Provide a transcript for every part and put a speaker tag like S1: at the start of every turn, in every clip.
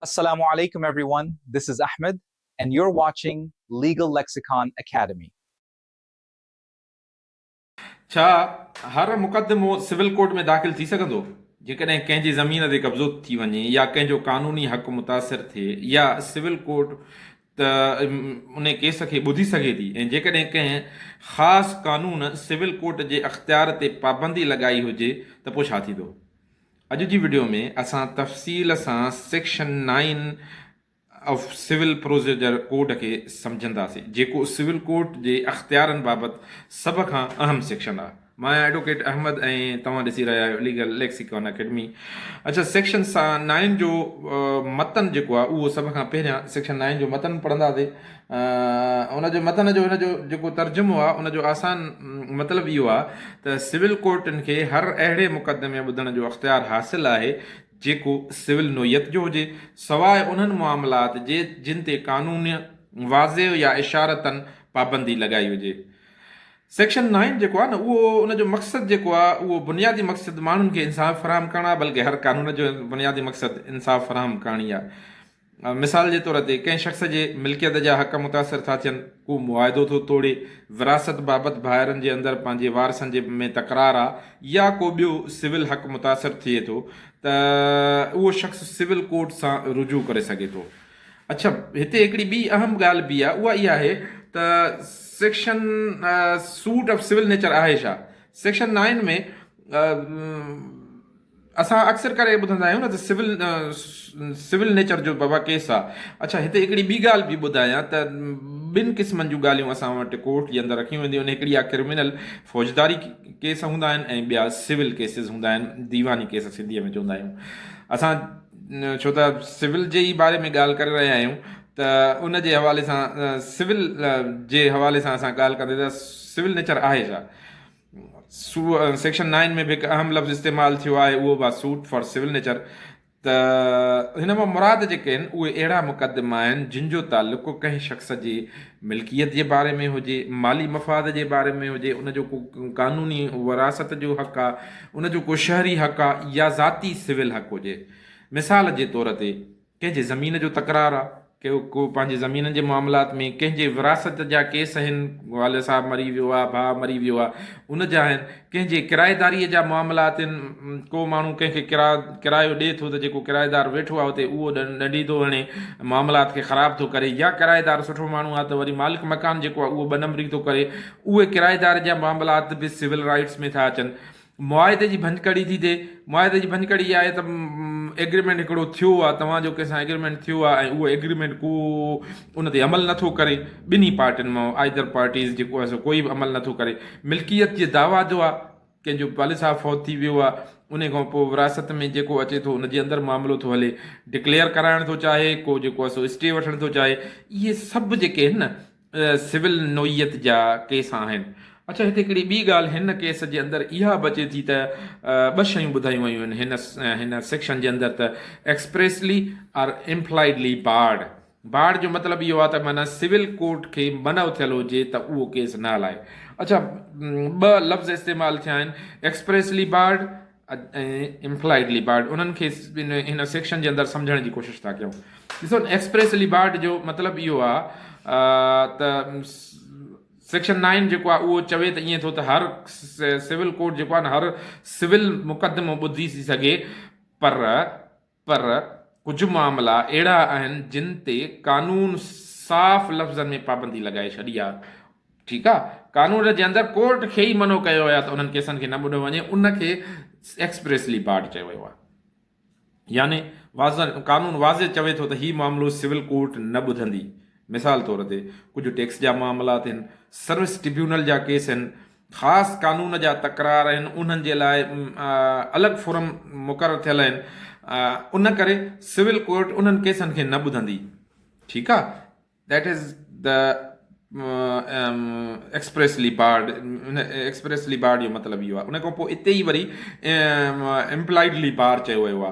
S1: السلام عليڪم Everyone This is Ahmed and you're watching Legal Lexicon Academy.
S2: ڇا هر مقدمو سول ڪورٽ ۾ داخل ٿي سگهندو؟ جيڪڏهن ڪنهن جي زمين تي قبضو ٿي وڃي يا ڪنهن جو قانوني حق متاثر ٿئي يا سول ڪورٽ ته ان ڪيس کي ٻڌي سگهي ٿي ۽ جيڪڏهن ڪنهن خاص قانون سول ڪورٽ جي اختيار تي پابندي لڳائي هجي ته پوء ڇا ٿيندو؟ اڄ جي وڊيو ۾ اسان تفصيل سان section nine of civil procedure code کي سمجهنداسين جيڪو سول ڪورٽ جي اختيارن بابت سڀ کان اهم سيڪشن آهي مان آهيان ايڊوڪيٽ احمد ۽ توهان ڏسي رهيا آهيو ليگل ليڪسيڪون اڪيڊمي اڇا سيڪشن نائين جو متن جيڪو آهي اهو سڀ کان پهريان سيڪشن نائين جو متن پڙهنداسين ان جي متن جو هن جو جيڪو ترجمو آهي ان جو آسان مطلب اهو آهي ته سول ڪورٽن کي هر اهڙي مقدمي ٻڌڻ جو اختيار حاصل آهي جيڪو سول نوعيت جو هجي سواء انهن معاملات جي جن تي قانون واضح يا اشارتن پابندي لڳائي هجي سيڪشن نائن جيڪو آهي نه اهو ان جو مقصد جيڪو آهي اهو بنيادي مقصد ماڻهن کي انصاف فراهم ڪرڻ آهي بلڪه هر قانون جو بنيادي مقصد انصاف فراهم ڪرڻي آهي مثال جي طور تي ڪنهن شخص جي ملڪيت جا حق متاثر ٿا ٿين، ڪو معاهدو ٿو ٽوڙي، وراثت بابت ڀائرن جي اندر پنهنجي وارثن جي ۾ تڪرار آ يا ڪو ٻيو سول حق متاثر ٿئي ٿو ته اهو شخص سول ڪورٽ سان رجوع ڪري سگهي ٿو. اڇا هتي هڪڙي ٻي اهم ڳالهه به آ اها اها آهي ته section suit of civil nature آهي ڇا؟ سيڪشن نائن ۾ اسان اڪثر ڪري ٻڌندا آهيون نه ته سول سول نيچر جو بابا ڪيس آ. اڇا هتي هڪڙي ٻي ڳالهه به ٻڌايان ته ٻن قسمن جون ڳالهيون اسان وٽ ڪورٽ جي اندر رکيون وينديون آهن هڪڙي آ ڪرمنل فوجداري ڪيس هوندا آهن ۽ ٻيا سول ڪيسز هوندا آهن ديواني ڪيس سنڌي ۾ چوندا آهيون اسان ڇو ته سول جي ئي باري ۾ ڳالهه ڪري رهيا آهيون ته ان جي حوالي سان سول جي حوالي سان اسان ڳالهه ڪندي ته سول نيچر آهي ڇا؟ سو سيڪشن نائن ۾ به هڪ اهم لفظ استعمال ٿيو آهي اهو به آهي سوٽ فار سول نيچر ته هن مان مراد جيڪي آهن اهي اهڙا مقدما آهن جن جو تعلق ڪو ڪنهن شخص جي ملڪيت جي باري ۾ هجي مالي مفاد جي باري ۾ هجي ان جو ڪو قانوني وراثت جو حق آ ان جو ڪو شهري حق آ يا ذاتي سول حق هجي مثال جي طور تي ڪنهن جي زمين جو تڪرار آ، ڪي ڪو پنهنجي زمينن جي معاملات ۾ ڪنهن جي وراثت جا ڪيس اهن، والد صاحب مري ويو آ، ڀاء مري ويو آ، ان جا اهن، ڪنهن جي ڪرائيداريء جا معاملات اهن، ڪو ماڻهو ڪنهن کي ڪرا ڪرايو ڏئي ٿو ته جيڪو ڪرائيدار ويٺو آ اتي اهو ڏنڊي ٿو هڻي، معاملات کي خراب ٿو ڪري يا ڪرائيدار سٺو ماڻهو آ ته وري مالڪ مڪان جيڪو آ اهو ٻه نمبري ٿو ڪري، اهي ڪرائيدار جا معاملات به سول رائيٽس ۾ ٿا اچن. معاهدي جي ڀڃڪڙي ٿي ٿئي. معاهدي جي ڀڃڪڙي اها آهي ته ايگريمينٽ هڪڙو ٿيو آهي، توهان جو ڪنهن سان ايگريمينٽ ٿيو آهي ۽ اهو ايگريمينٽ ڪو ان تي عمل نٿو ڪري، ٻنهي پارٽين مان Either Parties جيڪو آهي سو ڪوئي به عمل نٿو ڪري. ملڪيت جي دعويٰ جو آهي، ڪنهن جو والد صاحب فوت ٿي ويو آهي، انهي کان پوء ورهاست ۾ جيڪو اچي ٿو ان جي اندر معاملو ٿو هلي، Declare ڪرائڻ ٿو چاهي، ڪو جيڪو آهي سو Stay وٺڻ ٿو چاهي، اهي سڀ جيڪي آهن نه، سول نوعيت جا ڪيس آهن. اڇا هتي هڪڙي ٻي ڳالهه هن ڪيس جي اندر اها به اچي ٿي ته ٻه شيون ٻڌايون ويون آهن هن هن سيڪشن جي اندر ته expressly or impliedly barred barred جو مطلب اهو آهي ته معنيٰ سول ڪورٽ کي منع ٿيل هجي ته اهو ڪيس نه هلائي اڇا ٻه لفظ استعمال ٿيا آهن ايڪسپريسلي بارڊ ۽ امپلائيڊ ليبارڊ انهن کي هن سيڪشن جي اندر سمجهڻ جي ڪوشش ٿا ڪيون. ڏسو ايڪسپريس ليبارڊ جو مطلب اهو آ ته سيڪشن نائن جيڪو آ اهو چوي ته ائين ٿو ته هر سول ڪورٽ جيڪو آ نه هر سول مقدمو ٻڌي ٿي سگهي پر پر ڪجهه معاملا اهڙا آهن جن تي قانون صاف لفظن ۾ پابندي لڳائي ڇڏي آهي. ٺيڪ آهي قانون جي اندر ڪورٽ کي ئي منع ڪيو ويو آهي ته انهن ڪيسن کي نه ٻڌو وڃي ان کي ايڪسپريسلي بارڊ چيو ويو آهي. يعني واضح قانون واضح چوي ٿو ته هي معاملو سول ڪورٽ نه ٻڌندي. مثال طور تي ڪجهه ٽيڪس جا معاملا ٿين، سروس ٽربيونل جا ڪيس آهن، خاص قانون جا تڪرار آهن انهن جي لاء الڳ فورم مقرر ٿيل آهن ان ڪري سول ڪورٽ انهن ڪيسن کي نه ٻڌندي ٺيڪ آ that is the expressly barred expressly barred جو مطلب اهو آ ان کان پوء اتي ئي وري امپلائيڊلي بار چيو ويو آ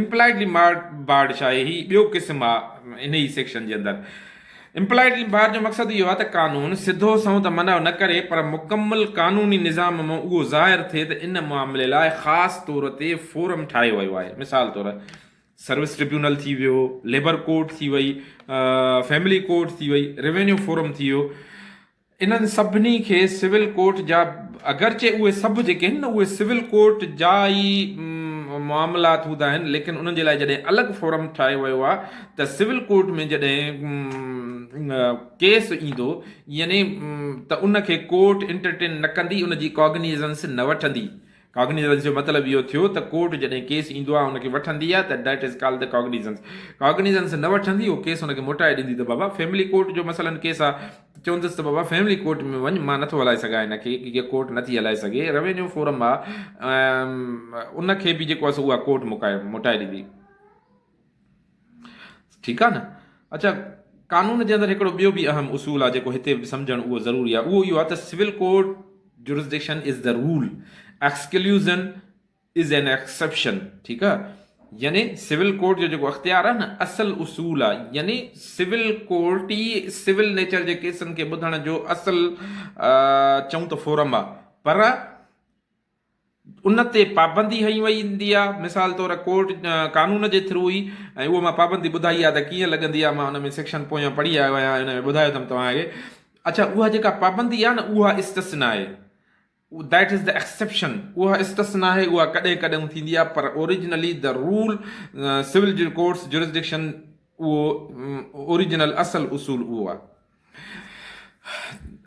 S2: Implied Limbard ڇا آهي؟ هي ٻيو قسم آ انهي سيڪشن جي اندر. Implied Limbard جو مقصد اهو آ ته قانون سڌو سنئون ته منع نه ڪري پر مڪمل قانوني نظام مان اهو ظاهر ٿئي ته ان معاملي لاء خاص طور تي فورم ٺاهيو ويو آهي. مثال طور سروس ٽربيونل ٿي ويو، ليبر ڪورٽ ٿي وئي، فيملي ڪورٽ ٿي وئي، روينيو فورم ٿي ويو. انهن سڀني کي سول ڪورٽ جا اگرچه اهي سڀ جيڪي آهن نه اهي سول ڪورٽ جا ئي معاملات هوندا آهن ليڪن انهن جي لاء جڏهن الڳ فورم ٺاهيو ويو آهي ته سول ڪورٽ ۾ جڏهن ڪيس ايندو يعني ته ان کي ڪورٽ انٽرٽين نه ڪندي ان جي ڪاگنيزنس نه وٺندي Cognizance جو مطلب اهو ٿيو ته ڪورٽ جڏهن ڪيس ايندو آهي ان کي وٺندي آهي ته That is called the Cognizance. Cognizance نه وٺندي اهو ڪيس ان کي موٽائي ڏيندي ته بابا فيملي ڪورٽ جو مثلاً ڪيس آهي ته چوندس ته بابا فيملي ڪورٽ ۾ وڃ مان نٿو هلائي سگهان ان کي هيء ڪورٽ نٿي هلائي سگهي روينيو فورم آهي ان کي به جيڪو آهي سو اها ڪورٽ موٽائي ڏيندي. ٺيڪ آهي نه. اڇا قانون جي اندر هڪڙو ٻيو به اهم اصول آهي جيڪو هتي به سمجهڻ اهو ضروري آهي اهو اهو آهي ته civil court jurisdiction is the rule exclusion is an exception ٺيڪ آهي يعني سول ڪورٽ جو جيڪو اختيار آهي نه اصل اصول آهي يعني سول ڪورٽ ئي سول نيچر جي ڪيسن کي ٻڌڻ جو اصل چون ته فورم آهي پر ان تي پابندي هنئي وئي هوندي آ مثال طور ڪورٽ قانون جي ٿرو ئي اهو مان پابندي ٻڌائي آ ته ڪيئن لڳندي آ مان ان ۾ سيڪشن پويان پڙهي آيو آهيان ۽ ان ۾ ٻڌايو اٿم توهان کي اڇا اها جيڪا پابندي آ نه اها استثنا آهي That is the exception اها استثنا آهي اها ڪڏهن ڪڏهون ٿيندي آ پر originally the rule civil courts jurisdiction اهو اوريجنل اصل اصول اهو آ.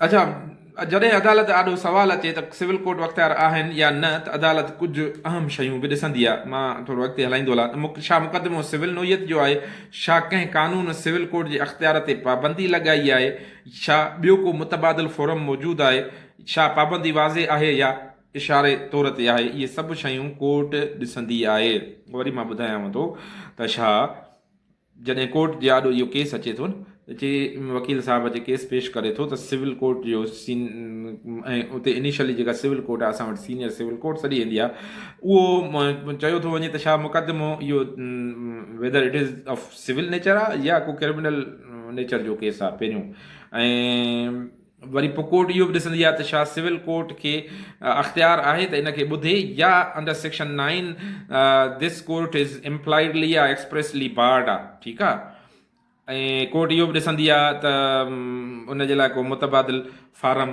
S2: اچا، جڏهن عدالت آڏو سوال اچي ته سول ڪورٽ بااختيار آهن يا نه ته عدالت ڪجهه اهم شيون به ڏسندي آهي. مان ٿورو اڳتي هلائيندو هلان. ڇا مقدمو سول نوعيت جو آهي؟ ڇا ڪنهن قانون سول ڪورٽ جي اختيار تي پابندي لڳائي آهي؟ ڇا ٻيو ڪو متبادل فورم موجود آهي؟ ڇا پابندي واضح آهي يا اشاري طور تي آهي؟ اهي سڀ شيون ڪورٽ ڏسندي آهي. وري مان ٻڌايانو ٿو ته ڇا. جڏهن ڪورٽ جي آڏو اهو ڪيس اچي ٿو ته چي وڪيل صاحب جي ڪيس پيش ڪري ٿو ته سول ڪورٽ جو سين ۽ اتي انيشلي جيڪا سول ڪورٽ آهي اسان وٽ سينيئر سول ڪورٽ سڏي ويندي آهي اهو چيو ٿو وڃي ته ڇا مقدمو اهو whether it is of civil nature آهي يا ڪو ڪرمنل نيچر جو ڪيس آهي پهريون ۽ وري پوء ڪورٽ اهو به ڏسندي آهي ته ڇا سول ڪورٽ کي اختيار آهي ته ان کي ٻڌي يا انڊر سيڪشن نائين دس ڪورٽ از امپلائيڊلي يا ايڪسپريسلي بارڊ آهي ٺيڪ آهي ۽ ڪورٽ اهو به ڏسندي آهي ته ان جي لاء ڪو متبادل فارم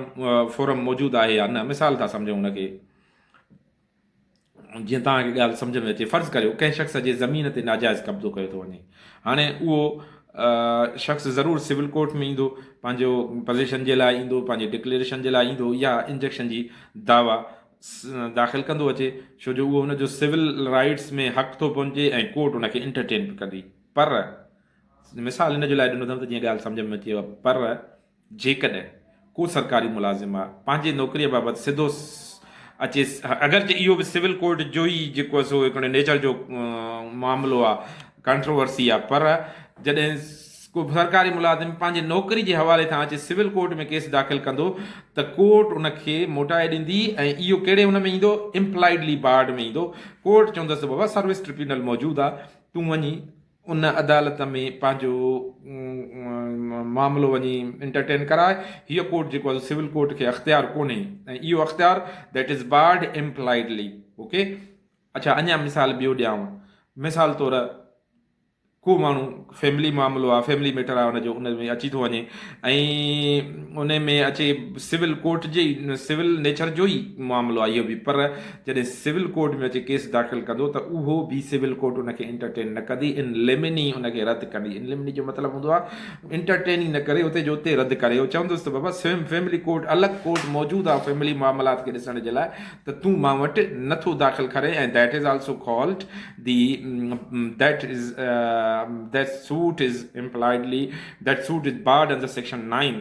S2: فورم موجود آهي يا نه مثال ٿا سمجهون ان کي جيئن توهان کي ڳالهه سمجهه ۾ اچي، فرض ڪريو ڪنهن شخص جي زمين تي ناجائز قبضو ڪيو ٿو وڃي. هاڻي اهو شخص ضرور سول ڪورٽ ۾ ايندو، پنهنجو پزيشن جي لاء ايندو، پنهنجي ڊڪليئريشن جي لاء ايندو يا انجيڪشن جي دعويٰ داخل ڪندو اچي، ڇو جو اهو ان جو سول رائيٽس ۾ حق ٿو پهچي ۽ ڪورٽ ان کي انٽرٽين به ڪندي. پر، مثال ان جو لاء ڏنو اٿم ته جيئن ڳالهه سمجهه ۾ اچي، پر، جيڪڏهن ڪو سرڪاري ملازم پنهنجي نوڪريء بابت سڌو اچي اگرچه اهو به سول ڪورٽ جو ئي جيڪو آهي سو هڪڙي نيچر جو معاملو آهي ڪانٽروورسي آهي پر جڏهن ڪو سرڪاري ملازم پنهنجي نوڪري جي حوالي سان اچي سول ڪورٽ ۾ ڪيس داخل ڪندو ته ڪورٽ ان کي موٽائي ڏيندي ۽ اهو ڪهڙي ان ۾ ايندو امپلائيڊلي بارڊ ۾ ايندو ڪورٽ چوندس ته بابا سروس ٽربيونل موجود آهي تون وڃي ان عدالت ۾ پنهنجو معاملو وڃي انٽرٽين ڪرائي، هيء ڪورٽ جيڪو آهي سو سول ڪورٽ کي اختيار ڪونهي ۽ اهو اختيار That is barred impliedly ok اڇا اڃا مثال ٻيو ڏيانو مثال طور ڪو ماڻهو فيملي معاملو آهي فيملي ميٽر آهي ان جو ان ۾ اچي ٿو وڃي ۽ ان ۾ اچي سول ڪورٽ جي سول نيچر جو ئي معاملو آهي اهو به پر جڏهن سول ڪورٽ ۾ اچي ڪيس داخل ڪندو ته اهو به سول ڪورٽ ان کي انٽرٽين نه ڪندي ان ليمن ئي ان کي رد ڪندي ان ليمن ئي جو مطلب هوندو آهي انٽرٽين ئي نه ڪري اتي جو اتي رد ڪري اهو چوندس ته بابا سويم فيملي ڪورٽ الڳ ڪورٽ موجود آهي فيملي معاملات کي ڏسڻ جي لاء ته تون مان وٽ نه ٿو داخل ڪرين ۽ that is also called the that is that suit is impliedly that suit is barred under section nine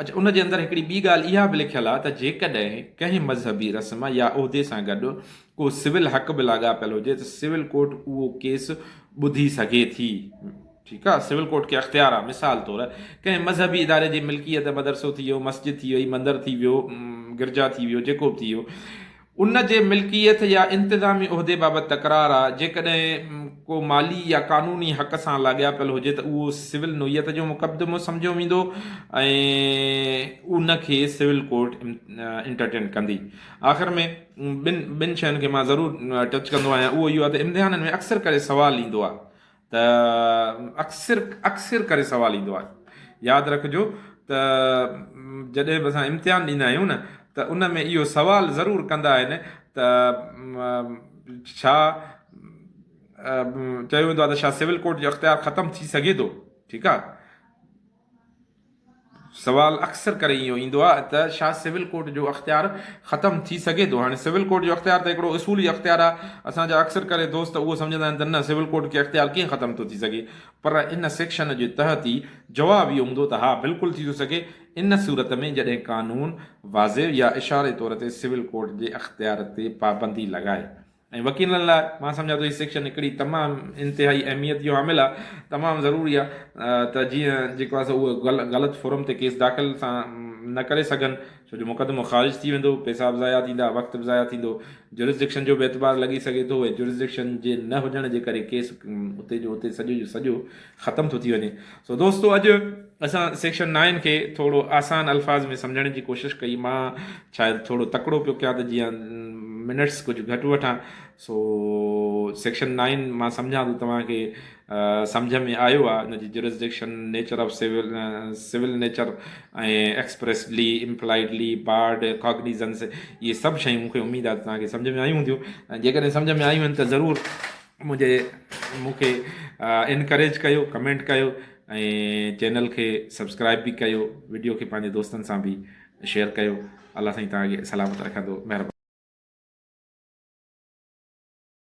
S2: اچ ان جي اندر هڪڙي ٻي ڳالهه اها به لکيل آهي ته جيڪڏهن ڪنهن مذهبي رسم يا عهدي سان گڏ ڪو سول حق به لاڳاپيل هجي ته سول ڪورٽ اهو ڪيس ٻڌي سگهي ٿي. ٺيڪ آهي سول ڪورٽ کي اختيار آهي مثال طور ڪنهن مذهبي اداري جي ملڪيت مدرسو ٿي ويو مسجد ٿي وئي مندر ٿي ويو گرجا ٿي ويو جيڪو به ٿي ويو ان جي ملڪيت يا انتظامي عهدي بابت تڪرار آ، جيڪڏهن ڪو مالي يا قانوني حق سان لاڳاپيل هجي ته اهو سول نوعيت جو مقدمو سمجهيو ويندو ۽ ان کي سول ڪورٽ انٽرٽين ڪندي. آخر ۾ ٻن ٻن شين کي مان ضرور ٽچ ڪندو آهيان اهو اهو آ ته امتحانن ۾ اڪثر ڪري سوال ايندو آ ته اڪثر اڪثر ڪري سوال ايندو آهي. ياد رکجو ته جڏهن به اسان امتحان ڏيندا آهيون نه ته ان ۾ اهو سوال ضرور ڪندا آهن ته ڇا چيو ويندو آهي ته ڇا سول ڪورٽ جو اختيار ختم ٿي سگهي ٿو؟ ٺيڪ آهي. سوال اڪثر ڪري اهو ايندو آهي ته ڇا سول ڪورٽ جو اختيار ختم ٿي سگهي ٿو؟ هاڻي سول ڪورٽ جو اختيار ته هڪڙو اصولي اختيار آهي، اسان جا اڪثر ڪري دوست اهو سمجهندا آهن ته نه سول ڪورٽ کي اختيار ڪيئن ختم ٿو ٿي سگهي؟ پر ان سيڪشن جي تحت ئي جواب اهو هوندو ته ها بلڪل ٿي ٿو سگهي ان صورت ۾ جڏهن قانون واضح يا اشاري طور تي سول ڪورٽ جي اختيار تي پابندي لڳائي ۽ وڪيلن لاء مان سمجهان ٿو هي سيڪشن هڪڙي تمام انتهائي اهميت جو عامل آهي تمام ضروري آهي ته جيئن جيڪو آهي سو اهي غلط فورم تي ڪيس داخل سان نه ڪري سگهن ڇو جو مقدمو خارج ٿي ويندو پيسا به ضايع ٿيندا وقت به ضايع ٿيندو جورسڊڪشن جو به اعتبار لڳي سگهي ٿو ۽ جورسڊڪشن جي نه هجڻ جي ڪري ڪيس اتي جو اتي سڄو جو سڄو ختم ٿو ٿي وڃي. سو دوستو اڄ اسان سيڪشن نائن کي ٿورو آسان الفاظ ۾ سمجهڻ جي ڪوشش ڪئي. مان شايد ٿورو تڪڙو پيو ڪيان ته جيئن منٽس ڪجهه گهٽ وٺان. سو سيڪشن نائن مان سمجهان ٿو توهان کي سمجهه ۾ آيو آهي. ان جي jurisdiction, nature of civil, civil nature ۽ ايڪسپريسڊلي، impliedly, barred, cognizance اهي سڀ شيون مون کي اميد آهي ته توهان کي سمجهه ۾ آيون هونديون ۽ جيڪڏهن سمجهه ۾ آيون آهن ته ضرور منهنجي مون کي انڪريج ڪيو ڪمينٽ ڪيو ۽ چينل کي سبسڪرائب به ڪيو ويڊيو کي پنهنجي دوستن سان به شيئر ڪيو الله سائين تان سلامت رکندو مهرباني